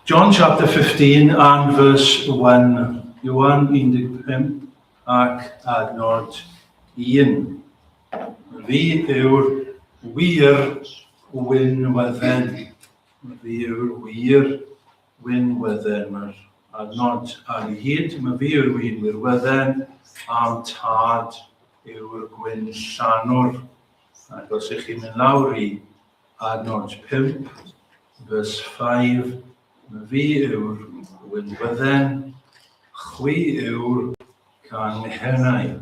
John chapter 15 and verse 1. Iwan 15 ac adnod 1. Fi yw'r wir wynwedden. Fi yw'r wir wynwedden. Mae'r adnod ar ei hyd. Mae fi yw'r wir wynwedden a'n tad yw'r gwyn llanwr. Ac os ych chi'n mynd lawr i Adnod 5, Verse 5, Fi yw'r wyn fydden, chwi yw'r canghennau.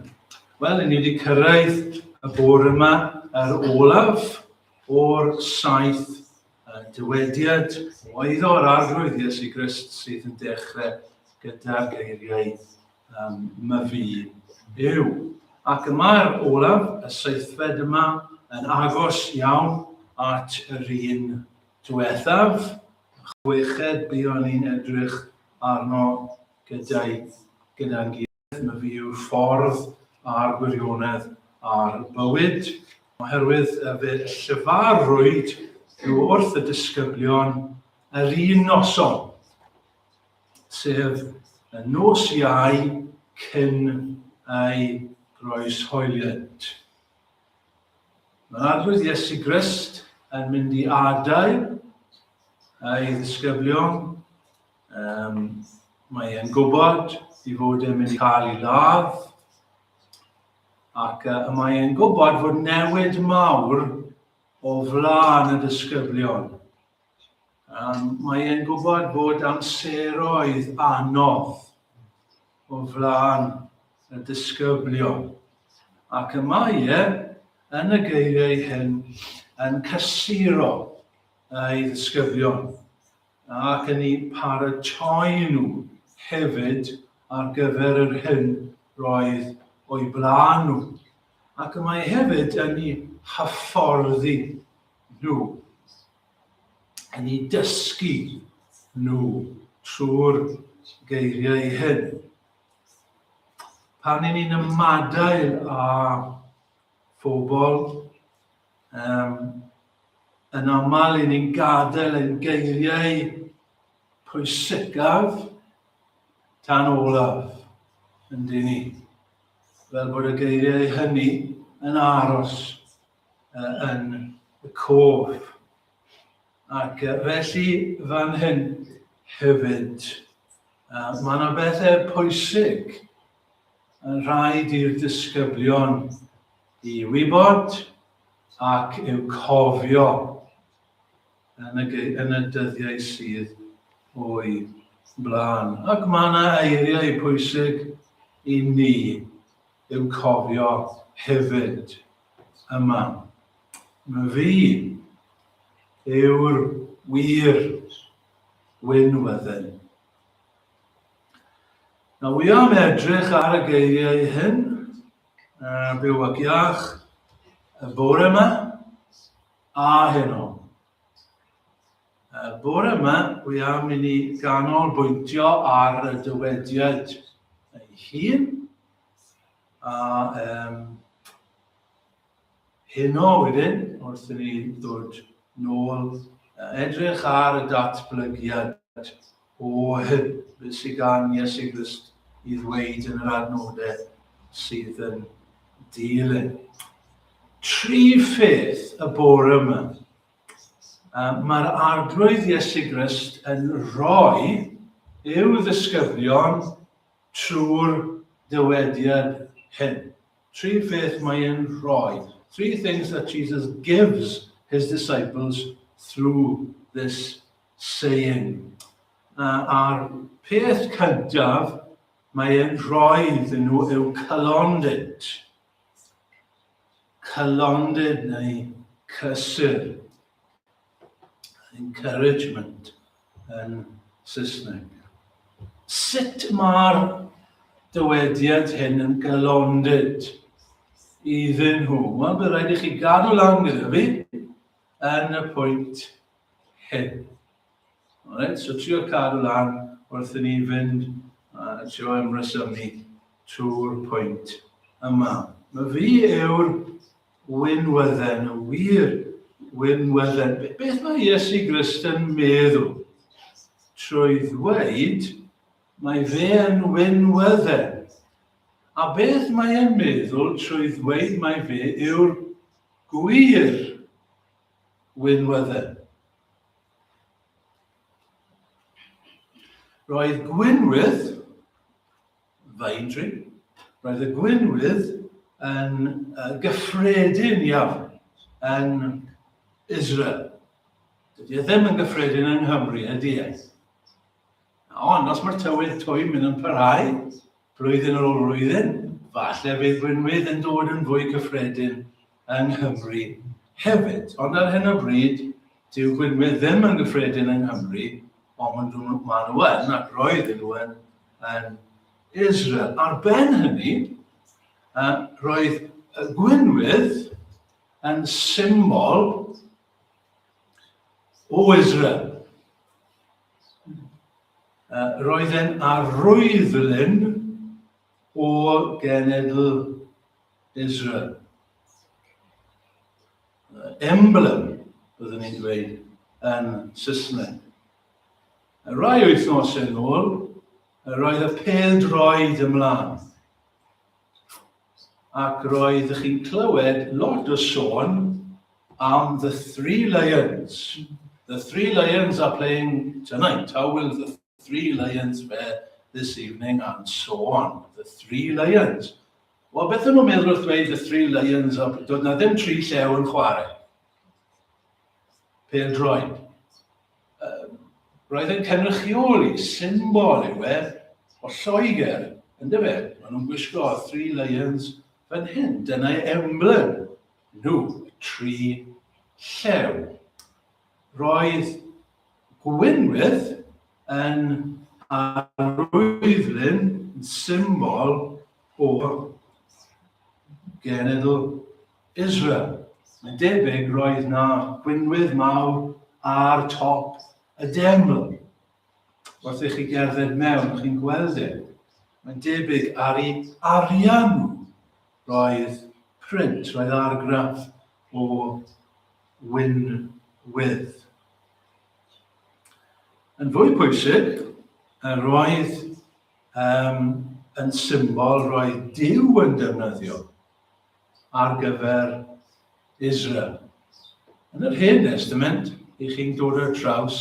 Wel, ni wedi cyrraedd y bore yma yr olaf o'r saith dywediad o eiddo yr arglwydd Iesu Grist sydd yn dechrau gyda'r geiriau um, myfi yw. Ac y mae'r olaf, y seithfed yma, yn agos iawn at yr un diwethaf, chweched buon ni'n edrych arno gyda'i gyda'n gilydd, mae fi yw'r ffordd a'r gwirionedd a'r bywyd, oherwydd y fe llyfarwyd nhw wrth y disgyblion yr un noson. sef y nos Iau cyn ei groeshoeliad. Mae'r Arglwydd Iesu Grist yn mynd i adael ei ddisgyblion. Um, mae e'n gwybod i fod e'n mynd i cael ei ladd, ac uh, mae e'n gwybod fod newid mawr o flaen y disgyblion. Um, mae e'n gwybod bod amseroedd anodd o flaen y disgyblion. Ac y mae e, yn y geiriau hyn, yn cysuro ei ddisgyblion ac yn ei paratoi nhw hefyd ar gyfer yr hyn roedd o'i blaen nhw. Ac y mae hefyd yn ei hyfforddi nhw, yn eu dysgu nhw trwy'r geiriau hyn. Pan ni'n ni'n ymadael â phobl, um, yn aml i ni'n gadael ein geiriau pwysicaf tan olaf yn dyn ni. Fel bod y geiriau hynny yn aros yn y cof. Ac felly fan hyn hefyd, mae yna bethau pwysig yn rhaid i'r disgyblion i wybod ac i'w cofio yn y, yn y dyddiau sydd o'i blaen. Ac mae yna eiriau pwysig i ni I'w cofio hefyd yma. Fi yw'r wir Wyn Wydden. Na wi am edrych ar y geiriau hyn, uh, byw ac iach, y bore yma, a heno. Y bore yma, wi am i ni ganolbwyntio ar y dywediad ei hun, A um, heno wedyn, wrth i ni ddod nôl, edrych ar y datblygiad o hyn beth sydd gan Iesu Grist i ddweud yn yr adnodau sydd yn dilyn. Tri pheth y bore yma. Um, Mae'r arglwydd Iesu Grist yn rhoi i'w ddisgyblion Trwy'r dywediad hyn, tri pheth mae e'n rhoi, three things that Jesus gives his disciples through this saying. A'r peth cyntaf mae e'n rhoi iddyn nhw yw cylondid. Cylondid neu cysur. encouragement yn Saesneg. Sut mae'r dywediad hyn yn galondid iddyn nhw? Wel, bydd rhaid i chi gadw lan gyda fi yn y pwynt hyn. Alright, so trio cadw lan wrth i ni fynd a trio ymresymu trwy'r pwynt yma. Mae fi yw'r Winwedden, yn wir, winwedden. Beth mae Iesu Grist yn meddwl? Trwy ddweud, mae fe yn winwedden. A beth mae e'n meddwl trwy ddweud mae fe yw'r gwir winwedden? Roedd gwynwydd Vaidri. Roedd y gwinwydd yn gyffredin iawn yn Israel. Dydy e ddim yn gyffredin yng Nghymru, ydy e? Ond os mae'r tywydd twym yn parhau, blwyddyn ar ôl blwyddyn, falle bydd gwynwydd yn dod yn fwy cyffredin yng Nghymru hefyd. Ond ar hyn o bryd, dyw Gwynwydd ddim yn gyffredin yng Nghymru, ond maen nhw yn, ac roedden nhw yn, yn Israel. Ar ben hynny, roedd Gwynwydd yn symbol o Israel. Roedd e'n arwyddlyn O genedl Israel. Emblem, byddwn ni'n dweud yn Saesneg. Y rai wythnos yn ôl, yr oedd y pel droed ymlaen. Ac roedd ych chi'n clywed lot o sôn am The Three Lions. The Three Lions are playing tonight. How will the Three Lions fe this evening and so on. The Three Lions. O, beth yn nhw'n meddwl wrth dweud The Three Lions, o, doedd na ddim tri llew yn chwarae. Pel droed. Um, roedd yn cynrychioli symbol yw e o Lloegr, yn dyfe? Maen nhw'n gwisgo Three Lions fan hyn. Dyna emblem nhw, tri llew. Roedd Gwynwydd yn arwyddlun yn symbol o genedl Israel. Mae'n debyg roedd na gwynwydd mawr ar top y deml. Wrth i chi gerdded mewn, chi'n gweld e. Mae'n debyg ar ei arian nhw roedd print, roedd argraff o Wyn Wydd. Yn fwy pwysig, yr roedd um, yn symbol roedd Dyw yn defnyddio ar gyfer Israel. Yn yr Hen Testament, i chi'n dod ar draws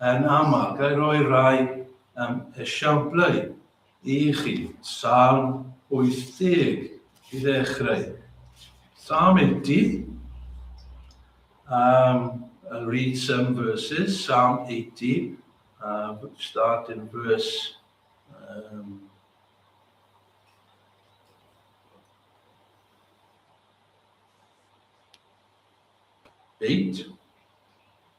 yn aml, gael roi rai um, esiamplau I chi, Salm 80 i ddechrau. Psalm 80. Um, I'll read some verses. Psalm 80. Uh, start in verse um, eight.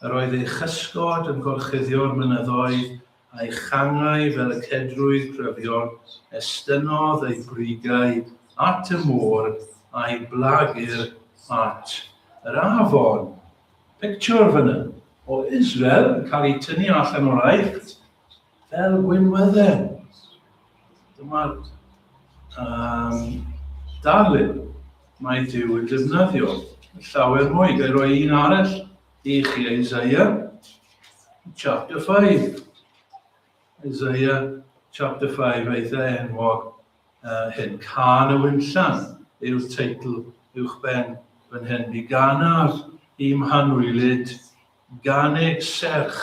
Yr oedd ei chysgod yn gorchuddio'r mynyddoedd, a'i changau fel y cedrwydd cryfion, estynnodd ei brigau at y môr, a'i blagur at yr afon. Pictiwr fan 'na o Israel yn cael ei tynnu allan o'r Aifft. Fel gwynwedden, dyma'r um, darlun mae Dyw yn defnyddio llawer mwy. Gael roi un arall i chi, Isaiah chapter 5. Isaiah chapter 5, eitha enwog uh, hyn. Can y Wynllan yw'r teitl uwch ben fan hyn. Mi ganar i mhanwylid gan ei serch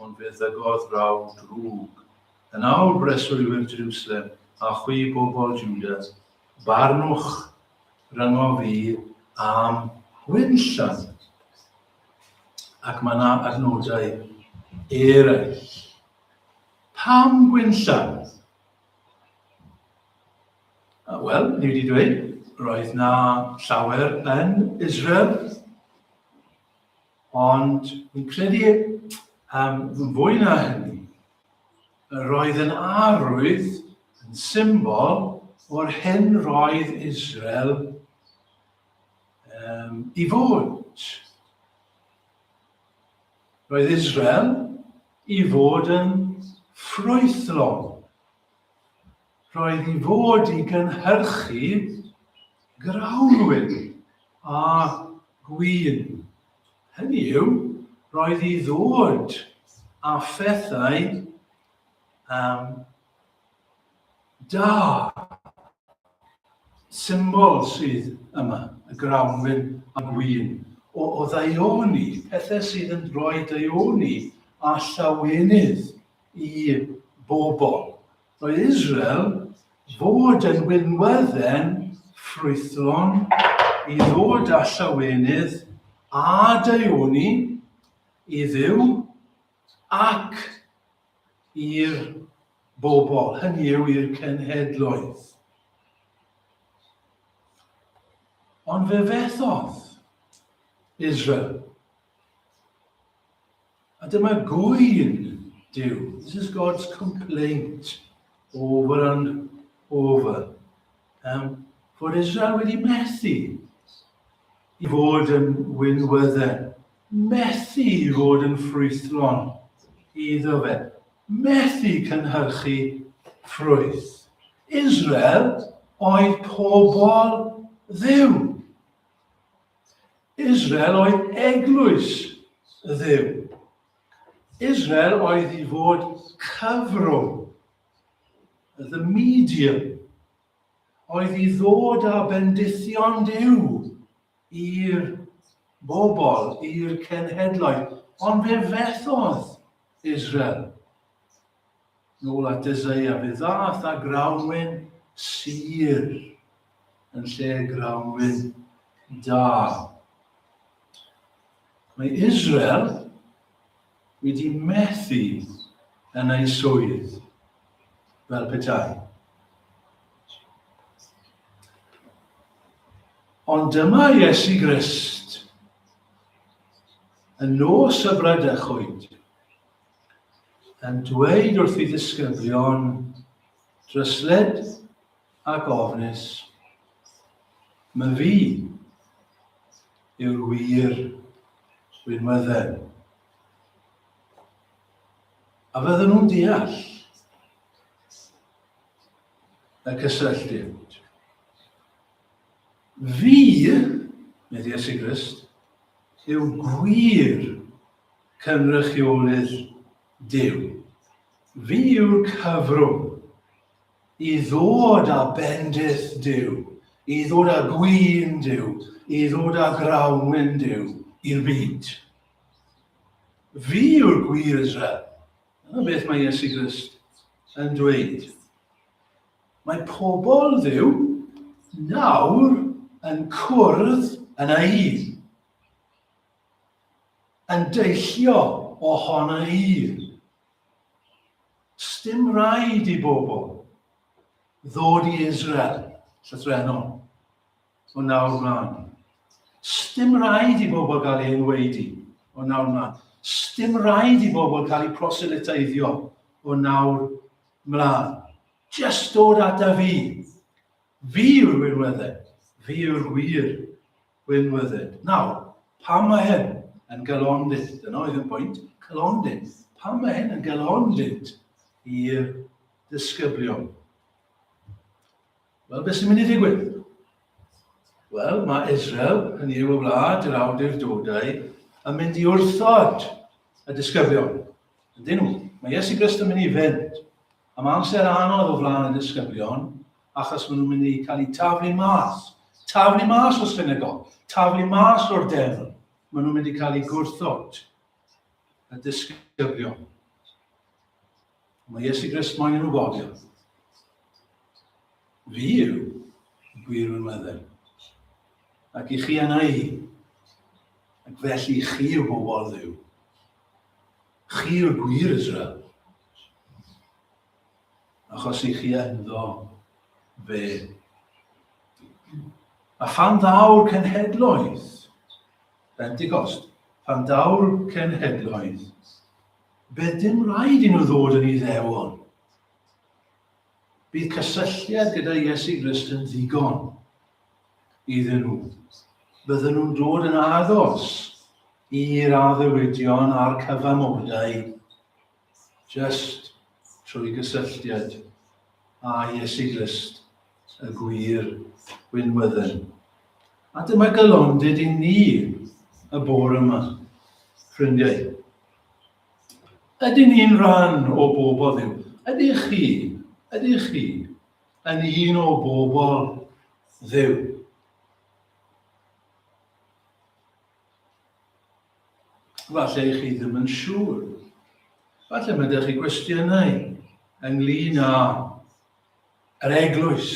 Ond fe ddygodd raw drwg. Yn awr, breswylwyr Jrwslem, a chwi, bobl Jwda, barnwch ryngo fi am wenllan. Ac mae yna adnodau eraill. Pam gwenllan? Wel, ni wedi dweud, roedd na llawer yn Israel Ond fi'n credu um, fwy na hynny, yr oedd yn arwydd yn symbol o'r hyn roedd Israel um, i fod. Roedd Israel i fod yn ffrwythlon. Rhaid i fod i gynhyrchu grawnwin a gwin. Hynny yw, roedd i ddod a phethau um, da, symbol sydd yma, y grawnwin a gwyn, o, o ddaioni, pethau sydd yn rhoi daioni a llawenydd i bobl. o Israel fod yn winwedden ffrwythlon i ddod â llawenydd a daioni i Dduw ac i'r bobl, hynny yw i'r cenhedloedd. Ond fe fethodd Israel. A dyma gŵyn Duw. This is God's complaint over and over. Um, fod Israel wedi methu i fod yn wynwyddau, methu i fod yn ffrwythlon iddo fe, methu cynhyrchu ffrwyth. Israel oedd pobl ddiw. Israel oedd eglwys y Dduw. Israel oedd i fod cyfrwng, the medium, oedd i ddod â bendithion Duw i'r bobl, i'r cenhedloedd. Ond fe fethodd Israel Nôl at Eseia, fe ddaeth â grawnwin sur yn lle grawnwin da. Mae Israel wedi methu yn ei swydd fel petai. Ond dyma Iesu Grist yn nos y Bradechwyd yn dweud wrth ei ddisgyblion dryslyd ac ofnus, Mae fi yw'r wir winwydden. A fydden nhw'n deall y cysylltiad. Fi, nid Iesu Grist, yw gwir Cynrychiolydd Duw, fi yw'r cyfrwng i ddod â bendith Duw, i ddod â gwin Duw, i ddod â grawnwin Duw i'r byd. Fi yw'r gwir Israel. Dyna beth mae Iesu Grist yn dweud. Mae pobl ddiw nawr yn cwrdd yn ei un. yn deillio o hon yn un. Sdim rhaid i bobl ddod i Israel llythrenol o nawr mlaen. Sdim rhaid i bobl gael ei enweidi o nawr mlaen. Sdim rhaid i bobl cael eu proselyteiddio o nawr mlaen. Just dod ata fi. Fi yw'r wirweddau. Fi yw'r gwir. Gwynfyddin. Nawr, pam mae hyn yn galonlith? Dyna oedd yn bwynt, calonlith. Pam mae hyn yn galonlith i'r disgyblion? Wel, beth sy'n mynd i ddigwydd? Wel, mae Israel, hynny yw y wlad, yr awdur dodau, yn mynd i wrthod y disgyblion. Ydyn nhw? Mae Iesu Grist yn mynd i fynd Am amser anodd o flaen y disgyblion, achos maen nhw'n mynd i cael eu taflu mas. Taflu mas o Senegal! Taflu mas o'r Deddf! Maen nhw'n mynd i cael eu gwrthod. Y disgyblion. Mae Iesu Grist moyn i nhw gofio. Fi yw y gwir wynweddau. Ac i chi yna i. Ac felly chi yw bobl ddiw. Chi yw'r gwir Israel, achos i chi ynddo fe. A phan ddaw'r cenhedloedd, Pentecost, pan daw'r cenhedloedd, fe dim rhaid i nhw ddod yn Iddewon. Bydd cysylltiad gyda Iesu Grist yn ddigon iddyn nhw. Bydden nhw'n dod yn agos i'r addewidion a'r cyfamodau jyst trwy gysylltiad â Iesu Grist, y gwir winwydden. A dyma galondid i ni y bore yma, ffrindiau. Ydyn ni'n rhan o bobl Dduw? Ydych chi, ydych chi yn un o bobl Dduw? Falle i chi ddim yn siŵr. Falle mae ydych chi gwestiynau ynglyn â Yr eglwys.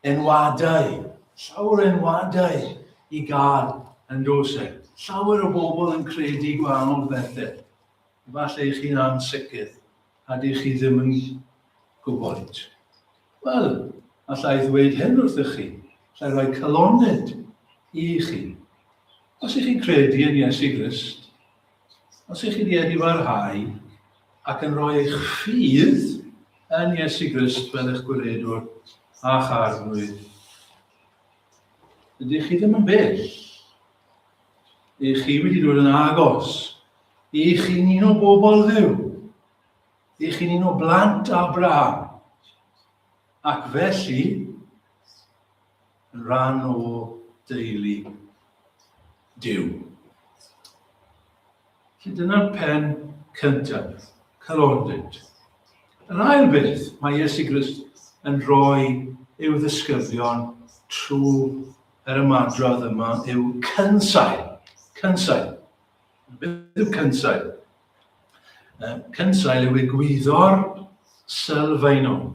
Enwadau, llawer enwadau i gael yn dos e. Llawer o bobl yn credu gwahanol bethau. Falle i chi'n ansicr a dych chi ddim yn gwybod. Wel, allai ddweud hyn wrthych chi, allai roi caloned i chi. Os ych chi'n credu yn Iesu Grist, Os ych chi wedi barhau ac yn rhoi eich ffydd yn Iesu Grist fel eich gwiredwr a'ch arglwydd, ydych chi ddim yn bell. Ych chi wedi dod yn agos. Ych chi'n un o bobl ddiw. Ych chi'n un o blant Abraham. Ac felly, rhan o deulu Duw. Felly dyna'r pen cyntaf, calondid. Yr ail beth mae Iesu Grist yn rhoi i'w ddysgyddion trwy yr ymadrodd yma yw cynsail. Cynsail. Beth yw cynsail? Cynsail yw egwyddor sylfaenol.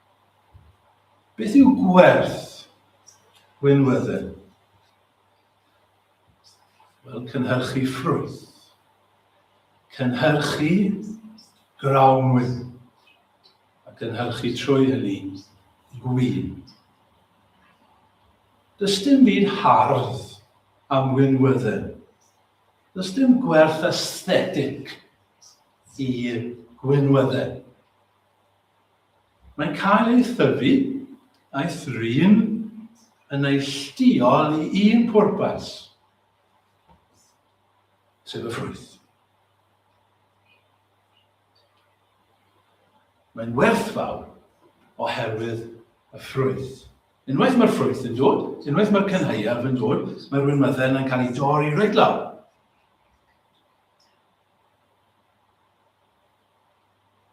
Beth yw gwerth winwedden? Wel, cynhyrchu ffrwyth, cynhyrchu grawnwyn, a cynhyrchu trwy hynny gwyn. Does dim byd hardd am winwedden. Does dim gwerth aesthetig i gwynwedden. Mae'n cael ei thyfu a'i thrin yn neilltuol i un pwrpas, sef y ffrwyth. Mae'n werthfawr oherwydd y ffrwyth. Unwaith mae'r ffrwyth yn dod, unwaith mae'r cynhauaf yn dod, mae'r wynwydden yn cael ei dorri reit lawr.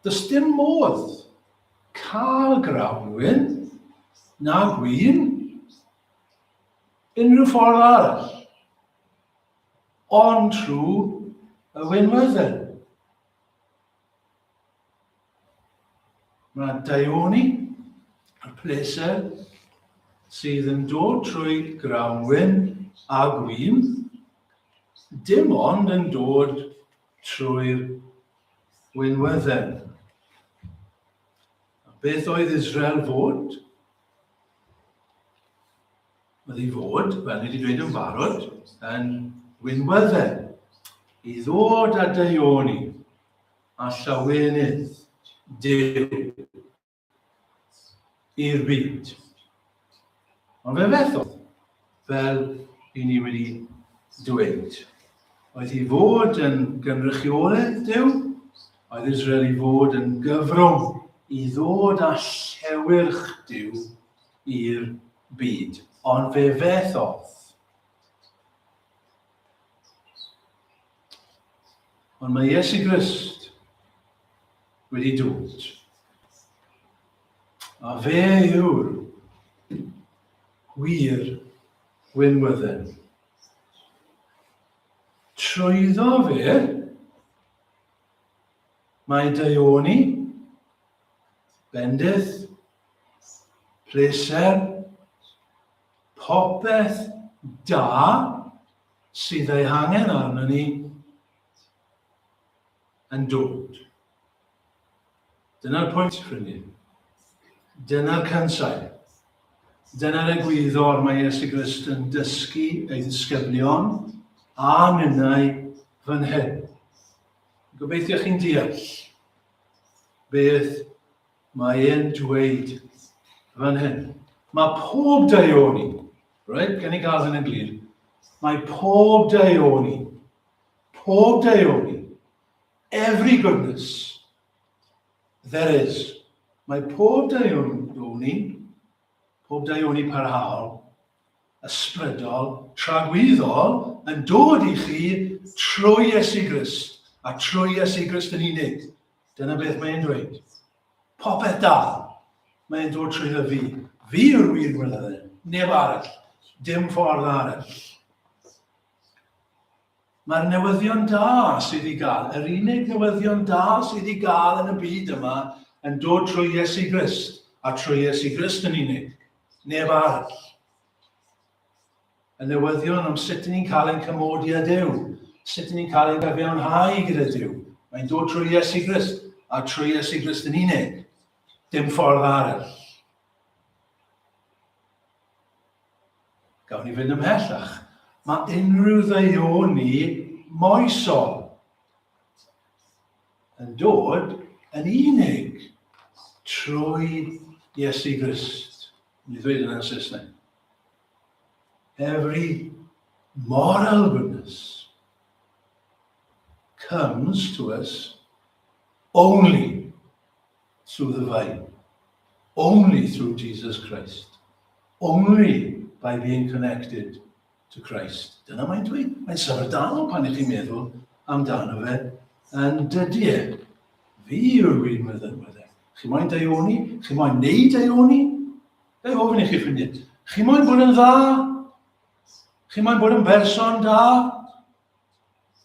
Does dim modd cael grawnwin, na gwin, unrhyw ffordd arall, ond trwy y winwedden. Mae daioni y pleser sydd yn dod trwy grawnwin a gwin, dim ond yn dod trwy'r winwedden. A beth oedd Israel fod? Oedd ei fod, fel ni wedi dweud yn barod, yn winwedden. I ddod a deioni a llawenydd Dyw i'r byd. Ond fe fethodd, fel i ni wedi dweud, oedd i fod yn gynrychiolydd Dyw, oedd Israel i fod yn gyfrwng i ddod â llewyrch Dyw i'r byd. Ond fe fethodd. Ond mae Iesu Grist wedi dod. A fe yw'r wir winwydden. Trwyddo fe, mae daioni, bendith, pleser, popeth da sydd ei hangen arno ni yn dod. Dyna'r pwynt, ffrindiau. Dyna'r cansail. Dyna'r egwyddor mae Iesu Grist yn dysgu ei ddisgyblion a minnau fan hyn. Gobeithio chi'n deall beth mae e'n dweud fan hyn. Mae pob daioni, right, gen i gael hyn yn glir, mae pob daioni Pob deuoli. Every goodness. There is. Mae pob deuoni, pob deuoni parhaol, ysbrydol, tragwyddol yn dod i chi trwy Iesu Grist a trwy Iesu Grist yn unig. Dyna beth mae'n dweud. Popeth da, mae'n dod trwy dda fi. Fi yw'r wir wylydden, neb arall, dim ffordd arall. Mae'r newyddion da sydd i gael, yr unig newyddion da sydd i gael yn y byd yma, yn dod trwy Iesu Grist, a trwy Iesu Grist yn unig, neb arall. Y newyddion am sut ni'n cael ein cymodi â Dyw, sut ni'n cael ein gyfiawnhau gyda Dyw, mae'n dod trwy Iesu Grist, a trwy Iesu Grist yn unig, dim ffordd arall. Gawn ni fynd ymhellach. Mae unrhyw ddeuoni moesol yn dod yn unig trwy Iesu Grist. Ni ddweud yna yn Saesneg. Every moral goodness comes to us only through the vine, only through Jesus Christ, only by being connected to Christ. Dyna mae'n dweud. Mae'n syfrdal pan ydych chi'n meddwl amdano fe yn dydy e. Fi yw'r wir meddylwedd e. Chi moyn daioni? Chi moyn neud daioni? Fe ofyn i chi ffrindiau. Chi moyn bod yn dda? Chi moyn bod yn berson da?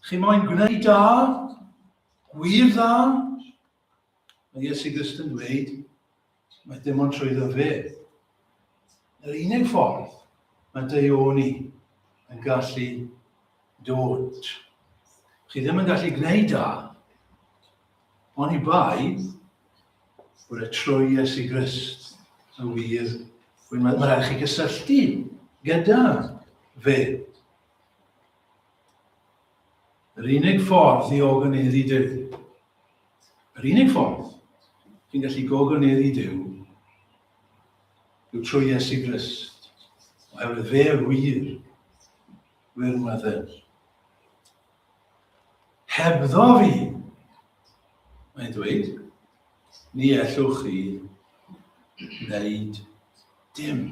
Chi moyn gwneud da? Gwir dda? Mae Iesu Grist yn dweud, mae dim ond trwyddo fe. Yr unig ffordd mae deioni yn gallu dod. Chi ddim yn gallu gwneud da, ond i bai bod y trwy Iesu Grist yn wir, mae rhaid chi gysylltu gyda fe. Yr unig ffordd i ogoneiddi Duw Yr unig ffordd chi'n gallu gogoneddu Duw yw trwy Iesu Grist, oherwydd fe yw'r wir, wir medden. Hebddo fi, mae'n dweud, ni ellwch chi wneud dim.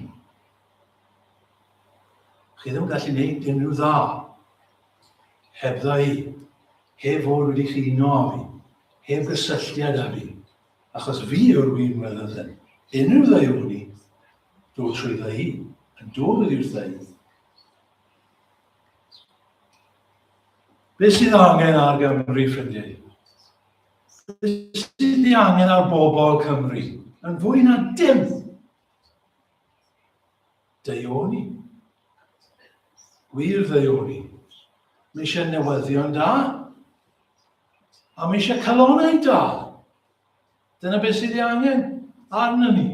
Chi ddim yn gallu wneud dim rhyw dda hebddo i. Heb fod wedi chi uno â fi, heb gysylltiad â fi, achos fi yw'r win weled yn. Unrhyw ddaioni, dod trwydda i, yn dod oddi wrtha i. Beth sydd angen ar Gymru, ffrindiau? Beth sydd ni angen ar bobl Cymru? Yn fwy na dim. Deuoni. Gwir ddeuoni. Mae eisiau newyddion da. A mae eisiau calonau da. Dyna beth sydd ei angen arno ni.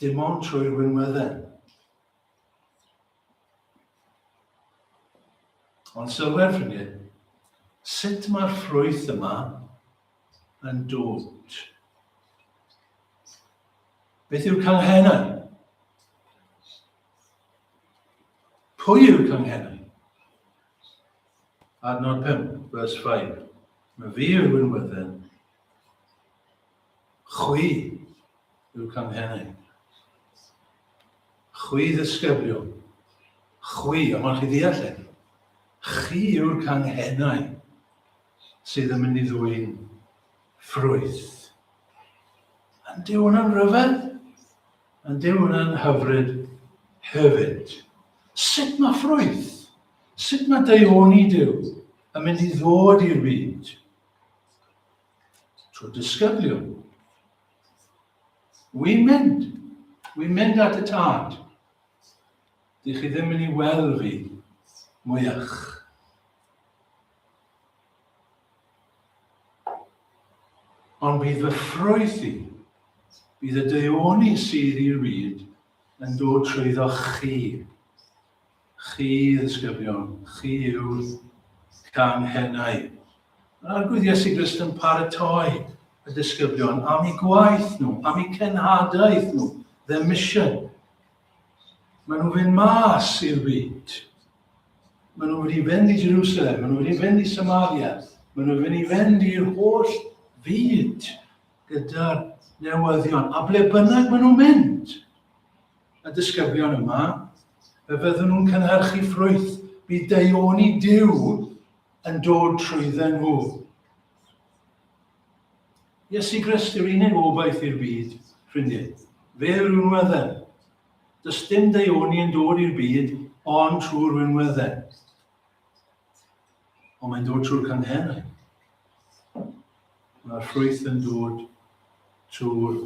Dim ond trwy'r winweddau. Ond sylwer ffrindiau, sut mae'r ffrwyth yma yn dwt. Beth yw'r canghennau? Pwy yw'r canghennau? Adnod 5, verse 5. Mae fi yw'r wynwydden. Chwi yw'r canghennau. Chwi ddysgyblion. Chwi, a mae'n chi ddeall e. Chi yw'r canghennau. sydd yn mynd i ddwyn ffrwyth. Yn dyw hwnna'n rhyfedd? Yn dyw hwnna'n hyfryd hefyd? Sut mae ffrwyth? Sut mae deioni Dyw yn mynd i ddod i'r byd? Trwy disgyblion. Wy'n mynd. Wy'n mynd at y tad. Dych chi ddim yn ei weld fi mwyach. Ond bydd fy ffrwyth i, bydd y deuoni sydd i'r byd yn dod trwyddo chi. Chi, ddisgyblion, chi yw'r canghennau. Yn arglwydd Iesu Grist yn paratoi y disgyblion am eu gwaith nhw, am eu cenhadaeth nhw, their mission, Maen nhw'n fynd mas i'r byd. Maen nhw'n mynd i fynd i Jerusalem, maen nhw'n mynd i fynd i Samaria, maen nhw'n mynd i fynd i'r holl fyd gyda'r newyddion. A ble bynnag maen nhw'n mynd, y disgyblion yma, fe fyddwn nhw'n cynhyrchu ffrwyth. Bydd deioni Dyw yn dod trwydden nhw. Iesu Grist yw'r unig obaith i'r byd, ffrindiau. Fe yw'r unwedden. Does dim deuoni yn dod i'r byd ond trwy'r unwedden. Ond mae'n dod trwy'r canghennau. Mae'r ffrwyth yn dod trwy'r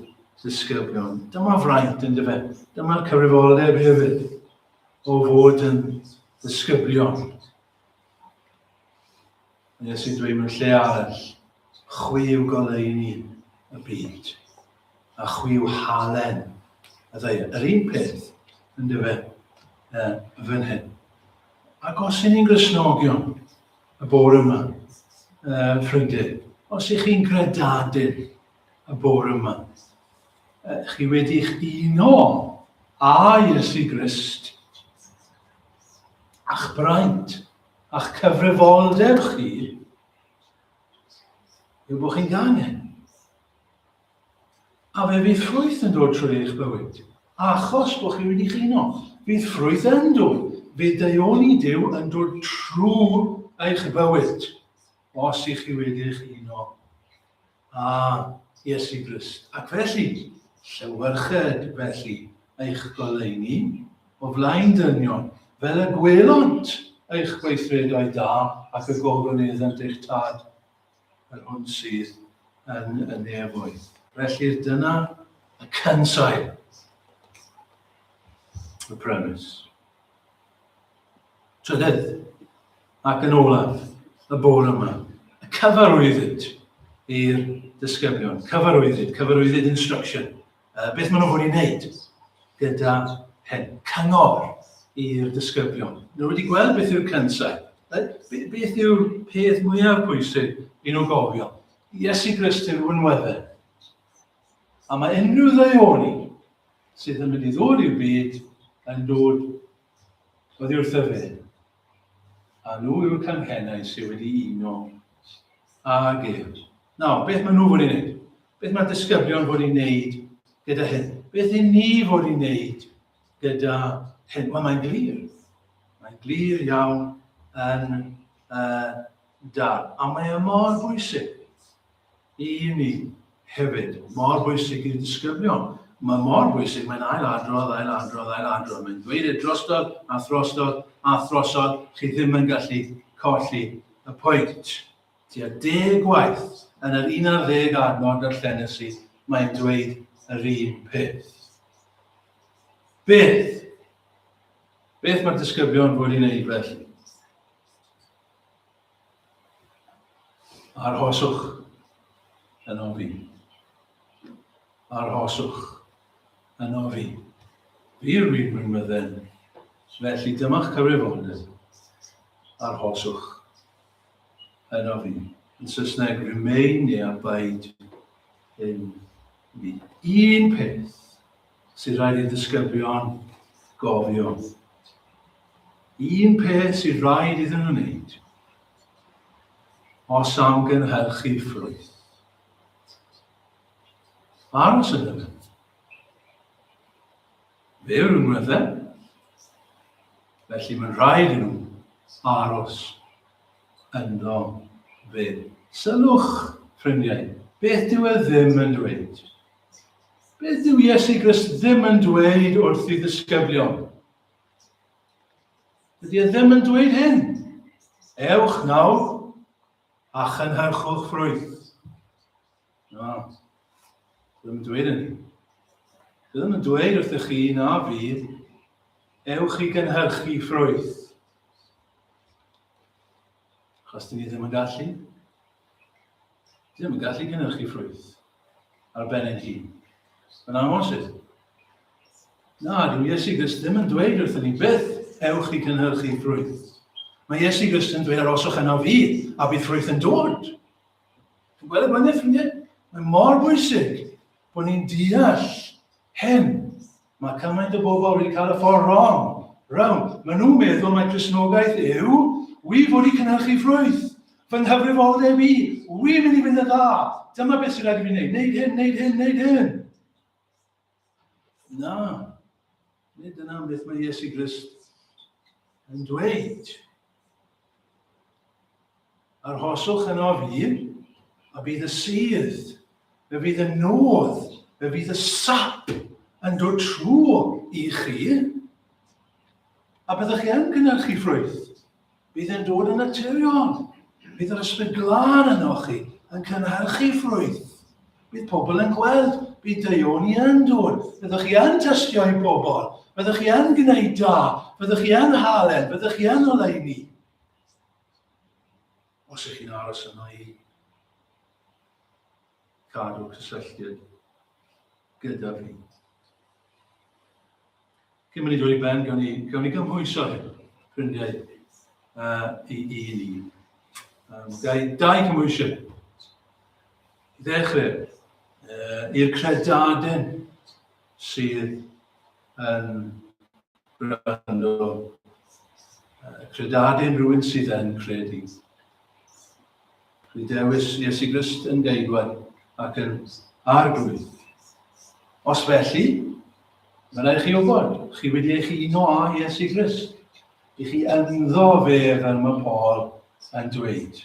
ddisgyblion. Dyma fraint yn dyfa. Dyma'r cyfrifoldeb hefyd o fod yn ddisgyblion Nes i dwi mewn lle arall, chwi yw goleuni y byd, a chwi yw halen y ddeir. Yr un peth, yn dyfe, uh, fan hyn. Ac os ydyn ni'n grisnogion y bore yma, uh, ffrindiau, os ych chi'n gredadyn y bore yma, uh, chi wedi'ch uno a Iesu Grist, a'ch braint, a'ch cyfrifoldeb chi yw bod chi'n gangen. A fe fydd ffrwyth yn dod trwy eich bywyd, achos bod chi wedi chino. Bydd ffrwyth yn dod, bydd deioni Dyw yn dod trwy eich bywyd, os i chi wedi eich uno A, Iesu Grist. Ac felly, llewyrched felly eich goleuni o flaen dynion, fel y gwelont eich gweithredoedd da, ac y gofwn iddynt eich Tad, yr hwn sydd yn y nefoedd. Felly dyna y cynsail. The premise. Trydydd, ac yn olaf, y bore yma, y cyfarwyddyd i'r disgyblion, cyfarwyddyd, cyfarwyddyd instruction. Uh, beth maen nhw'n fod i wneud gyda hyn? Cyngor i'r disgyblion. Nhw wedi gweld beth yw'r cynsau. Beth yw'r peth mwyaf pwysig i nhw gofio? Iesu Grist yw'r wynweddau. A mae unrhyw ddaiori sydd yn mynd i ddod i'w byd yn dod oddi wrtho fe. A nhw yw'r canghennau sydd wedi uno ag ef. Nawr, beth maen nhw wedi gwneud? Beth mae'r disgyblion wedi gwneud gyda hyn? Beth i ni fod i'n wneud gyda hyn? Wel, mae'n glir. Mae'n glir iawn yn uh, dal. A mae e mor bwysig. I ni hefyd, mor bwysig i'r disgyblion. Mae mor bwysig, mae'n ail-adrodd, ail-adrodd, ail-adrodd. Mae'n dweud e drostodd a throstodd a throsodd, chi ddim yn gallu colli y pwynt. Tua deg gwaith yn yr 11 adnod darllenes i, mae'n dweud yr un peth. Beth? Beth mae'r disgyblion wedi wneud felly? Arhoswch yn ofyn. Arhoswch yn ofyn. Byr rwy'n rwy'n mydden. Felly dyma'ch cyfrifoldeb. Arhoswch yn ofyn. Yn Saesneg, remain neu abide in me. Un peth sydd rhaid i ddisgyblion gofio. Un peth sydd rhaid iddyn nhw wneud os am gynhyrchu ffrwyth. Aros yn yna. Fe yw'r ymwydde. Felly mae'n rhaid i nhw aros ynddo fe. Sylwch, ffrindiau, beth dyw e ddim yn dweud. Beth yw Iesu Grist ddim yn dweud wrth ei ddisgyblion? Dydy e ddim yn dweud hyn. Ewch nawr a chynhyrchwch ffrwyth. Na, ddim yn dweud hynny. Ddim yn dweud wrth chi na fi, ewch i gynhyrchu ffrwyth. Achos dyn ni ddim yn gallu. Dyn ddim yn gallu cynhyrchu ffrwyth ar ben ein hun. Yn amosib. Na, dyw Iesu Grist ddim yn dweud wrthyn ni byth, ewch i gynhyrchu ffrwyth. Mae Iesu Grist yn dweud aroswch yna fi, a bydd ffrwyth yn dod. Dwi'n gweld y blaen ffrindiau? Mae mor bwysig bod ni'n deall hyn Mae cymaint o bobl wedi cael y ffordd wrong. Wrong. Mae nhw'n meddwl mae Cresnogaeth yw, wi fod i cynhyrchu ffrwyth. Fy nghyfrifoldeb i, wi'n mynd i fynd yn dda. Dyma beth sy'n rhaid i fi wneud. Wneud hyn, wneud hyn, wneud hyn. Na. Nid dyna beth mae Iesu Grist yn dweud. Arhoswch yn ofyn, a bydd y sydd, fe fydd y nodd, fe fydd y sap yn dod trw i chi, a byddwch chi yn cynnyrchu ffrwyth. Bydd yn dod yn naturiol. Bydd yr ysbryd glân yno chi yn cynhyrchu ffrwyth. Bydd pobl yn gweld, bydd deuon i yn dod, byddwch chi yn tystio i bobl, byddwch chi yn gwneud da, byddwch chi yn halen, byddwch chi yn oleini. Os ych chi'n aros yma i gadw cysylltiad gyda fi. Cyn mynd i ddweud i ben, gawn ni, gawn ni gymhwyso hyn, ffrindiau uh, i, i ni. Um, gai dau cymhwysiau. I ddechrau, uh, i'r credaden sydd yn gwrando, credad yn rhywun sydd yn credu. Dwi dewis Iesu Grist yn geidwad ac yn arglwydd. Os felly, mae'n rhaid chi wybod, chi wedi eich uno â Iesu Grist. I chi ynddo fe fel mae Paul yn dweud.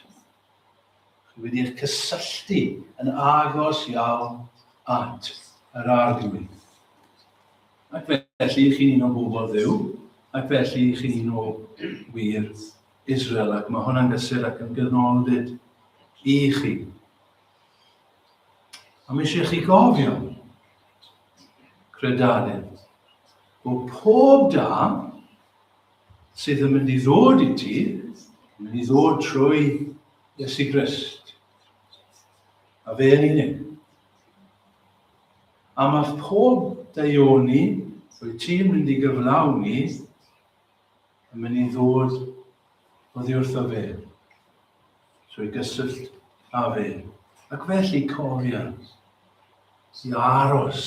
chi wedi'ch cysylltu yn agos iawn at yr Arglwydd. Ac felly chi'n un o bobl ddew, ac felly chi'n un o wir Israel, ac mae hwnna'n gysur ac yn gynnolfyd i chi. A mae eisiau chi gofio, credarydd, bod pob da sydd yn mynd i ddod i ti, yn mynd i ddod trwy Iesu Grist. A fe yn unig. A mae pob daioni rwy ti'n mynd i gyflawni yn mynd i ddod o ddi wrtho fe. Trwy gysyllt a fe. Ac felly cofia i aros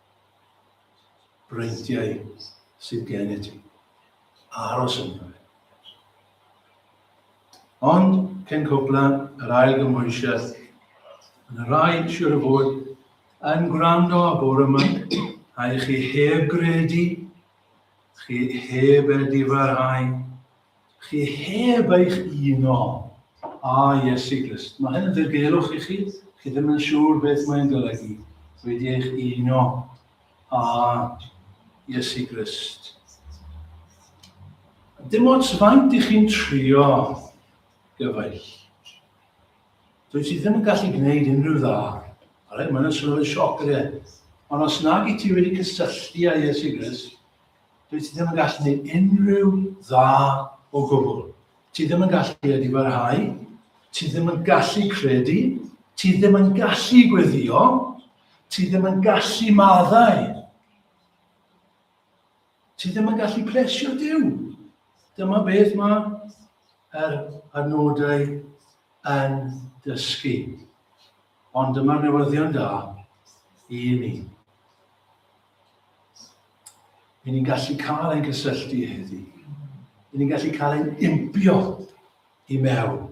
breudiau sydd gen i ti. Aros ynddo fe. Ond, cyn cwpla, yr ail gymhwysiaeth, yn y rai siwr o fod yn gwrando a bore yma, a i chi heb gredu, chi heb edifarhau, Chi heb eich uno â Iesu Grist. Mae hyn yn ddirgelwch i chi, chi ddim yn siŵr beth mae'n golygu, wedi eich uno â Iesu Grist. Dim ots faint i chi'n trio gyfaill. Dwi ti ddim yn gallu gwneud unrhyw dda. Alright, mae'n swnio'n sioc, ydy e? Ond os nag i ti wedi cysylltu â Iesu Grist, Dwi ti ddim yn gallu gwneud unrhyw dda o gwbl. Ti ddim yn gallu credu barhau, ti ddim yn gallu credu, ti ddim yn gallu gweddio, ti ddim yn gallu maddau. Ti ddim yn gallu plesio Dyw. Dyma beth mae yr adnodau yn dysgu. Ond dyma'r newyddion da i ni. Rydyn ni'n gallu cael ein cysylltu heddi. Rydyn ni'n gallu cael ein impio i mewn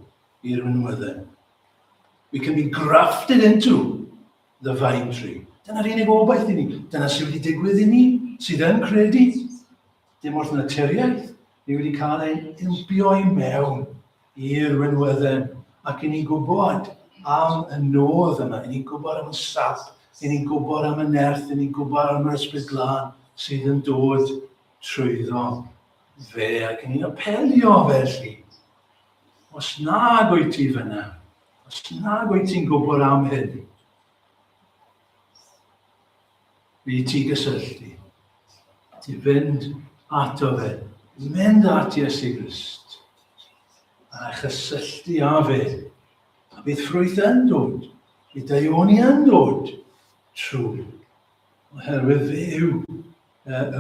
i'r mynwydden. We can be grafted into the vine tree. Dyna'r unig obaith i ni. Dyna sydd wedi digwydd i ni sydd yn credu. Dim wrth naturiaeth. Ni wedi cael ein impio i mewn i'r winwedden ac i ni gwybod am y nod yma, i ni gwybod am y sap, i ni gwybod am y nerth, i ni gwybod am yr ysbryd glân sydd yn dod trwyddo fe ac i ni'n apelio felly. Os nag wyt ti fyna, os nag wyt ti'n gwybod am hyn, Bydd ti gysylltu. Ti fynd ato fe. Mynd at Iesu Grist. A chysylltu â fe. A bydd ffrwyth yn dod. Bydd daioni yn dod. Trwy. Oherwydd fe yw y